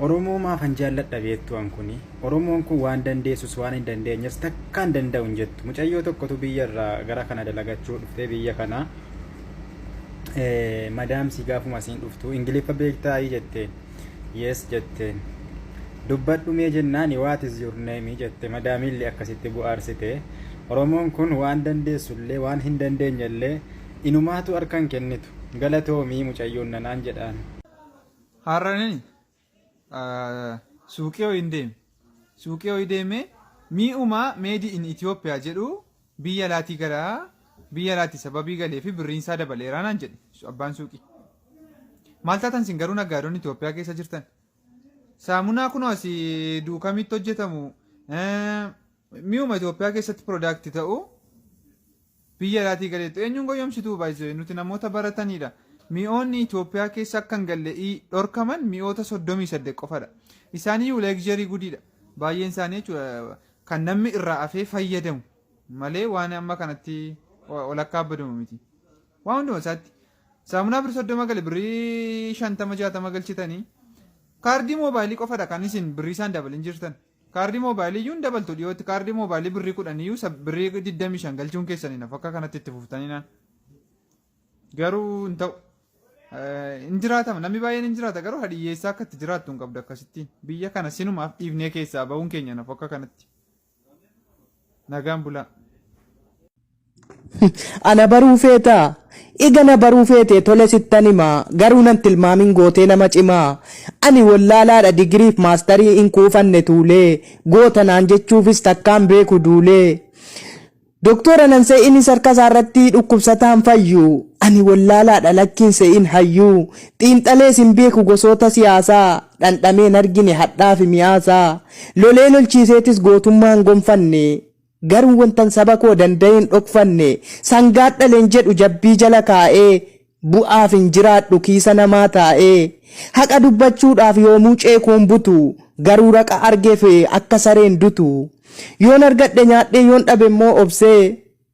Oromoo maafan jaalladha beektuu an kuni? Oromoon kun waan dandeessus waan hin dandeenyes takka hin danda'u hin jettu. Mucayyoo tokkotu biyya irraa gara kana dalagachuu dhuftee biyya kana madaamsi gaafuma asiin dhuftu ingiliffa beektaa jetteen yes jetteen dubbadhu mee jennaan what is your name jette madaamiillee akkasitti bu'aarsite oromoon kun waan dandeessullee waan hin dandeenyellee inumaatu harkan kennitu galatoomii mucayyoon nanaan jedhaan. Har'anin suuqii ho'iin deeme. Suuqii ho'ii deemee mi'uma meedi in Itoophiyaa jedhu biyya alaatii gara biyya alaatti sababii galee fi birriin isaa dabaleeraa naan jedhe abbaan suuqii. Maal taatan sin garuu naggaadonni Itoophiyaa keessa jirtan? Saamunaa kunoo asii duukamitti hojjetamu mi'uma Itoophiyaa keessatti piroodaakti ta'u Biyya alaatii galeettu eenyuun goyyomsituu by the way nuti namoota barataniidha mi'oonni Ethiopia keessa akka hin galle i dhorkaman mi'oota 38 qofadha isaaniyyuu luxury gudiidha baay'een isaanii jechuudha kan nammi irraa afee fayyadamu malee waan amma kanatti walakkaa abbadamu miti waan hunduma isaatti saamunaa birri 30 gale birrii 50 60 galchitanii kaardii moobaayilii qofadha kan isin birrii isaan dabalin jirtan Kaardii mobile iyyuu hin dabaltu dhiyootti kaardii mobile birrii kudhan iyyuu isa birrii digdamii shan galchuun keessan hin hafu akka kanatti itti fuftanii naan garuu hin ta'u hin jiraatama namni baay'een hin jiraata garuu hadiyyeessaa akka itti jiraattu hin qabdu akkasittiin biyya kana sinumaaf dhiifnee keessaa bahuun keenya hin hafu akka kanatti. Nagaan bulaa. Ana baruu feetaa? Ega na baruu feetee tole sittan hima garuu nan tilmaamin gootee nama cimaa ani wollaalaadha digiriif maastarii hin quufanne tuulee goota naan jechuufis takkaan beeku duulee doktoora nan se'inis harkasaarratti dhukkubsataan fayyu ani wollaalaadha lakkiin se'in hayyuu xiinxalees hin beeku gosoota siyaasaa dhandhamee hin argine hadhaafi mi'aasaa lolee lolchiiseetis gootummaa hin gonfanne garuu wantan saba koo danda'ee hin dhokfanne sangaan dhale hin jedhu jabbii jala kaa'ee bu'aaf hin jiraadhu kiisa namaa taa'ee haqa dubbachuudhaaf yoomuu ceekuu hin butu garuu raqa argeef akka sareen dutu yoon argadhe nyaadhee yoon dhabe immoo obsee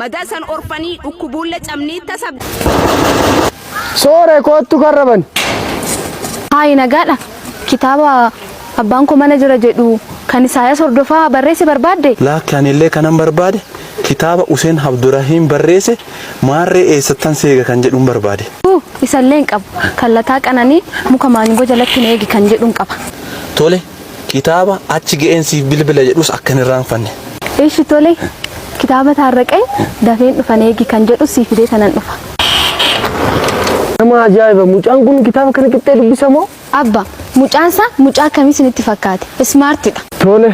Madaa san orfanii dhukkubuulle camnii tasa. Soore koottu karra bani. Haayi nagaadha. Kitaaba abbaan koo mana jira jedhu kan Isaayas Hordofaa barreesse barbaadde? Laakki ani illee kanan barbaade kitaaba Useen Abdurahiim barreesse Maarree eessattan si eega kan jedhun barbaade. Huu, isa illee hin qabu. Kan Lataa Qananii muka maangoo jalatti na eegi kan jedhun qaba. Tole, Kitaaba achi ga'een siif bilbila jedhus akka hin irraanfanne. Eshi tole kitaaba Taarraqany dafeen dhufan eegi kan jedhus sii fidee tanan dhufa. Nama ajaa'iba! Mucaan kun kitaaba kana qixxee dubbisa moo? Abba, mucaan isaa mucaa akkamii isinitti fakkaate? Smart dha. Tole,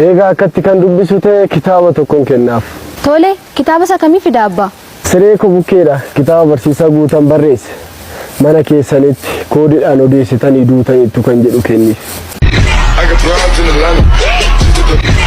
eegaa akkatti kan dubbisu ta'e kitaaba tokkon kennaaf. Tole, kitaaba isa kamii fida abba? Siree koo bukkeedha kitaaba barsiisaa Guutan barreesse mana keessanitti koodidhaan odeessitanii duutaniittu kan jedhu kenniif. I got broads in Atlanta.